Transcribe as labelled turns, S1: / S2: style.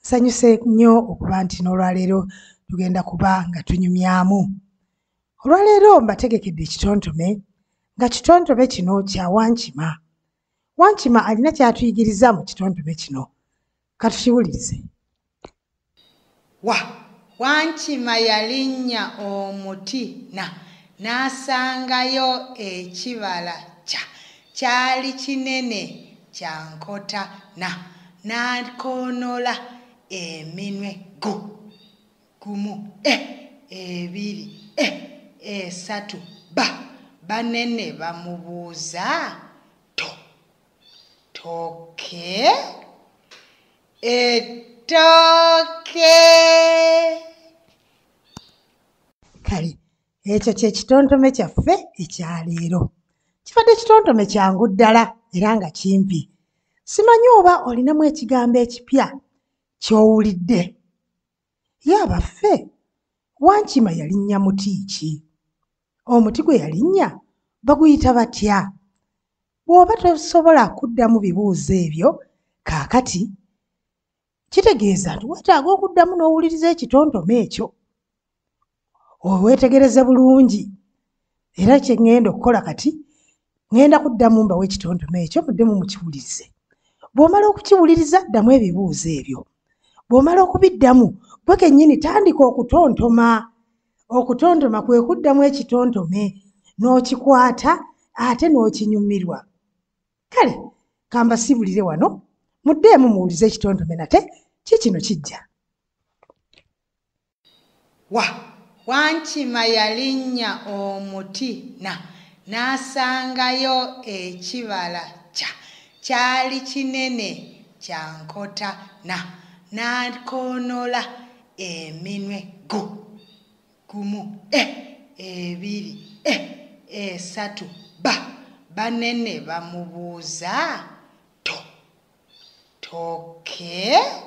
S1: Nsanyuse nnyo okuba nti n'olwaleero tugenda kuba nga tunyumyamu. Olwaleero mbategekedde ekitontome nga kitontome kino kya Wankima. Wankima alina ky'atuyigiriza mu kitontome kino. Katukiwulirize. wa
S2: wankima yalinnya omuti na n'asangayo ekibala kya kyali kinene kya nkota na n'akoonola eminwe gu gumu e ebiri e esatu ba banene bamubuuza to toke ettooke kale ekyo kye kitontome kyaffe ekyaleero kibadde kitontome kyangu ddala era nga kimpi simanyi oba olinamu ekigambo ekipya ky'owulidde Ye abaffe, Wankima yalinnya muti ki? Omuti gwe yalinnya baguyita batya? Bw'oba tosobola kuddamu bibuuzo ebyo kaakati, kitegeeza nti weetaaga okuddamu n'owuliriza ekitontome ekyo. owetegereze bulungi era kyeŋŋenda okukola kati ŋŋenda kuddamu mbawo ekitontome ekyo muddemu mukiwulirize bw'omala okukiwuliriza ddamu ebibuuzo ebyo bw'omala okubiddamu gwe kennyini tandika okutontoma okutontoma kwe kuddamu ekitontome n'okikwata ate n'okinyumirwa kale kambasiibulire wano muddeemu muwulize ekitontome nate kikino kijja wa wankima yalinnya omuti na n'asangayo ekibala kya kyali kinene kya nkota na n'akoonola eminwe gu gumu e ebiri e esatu ba banene bamubuuza to toke okay.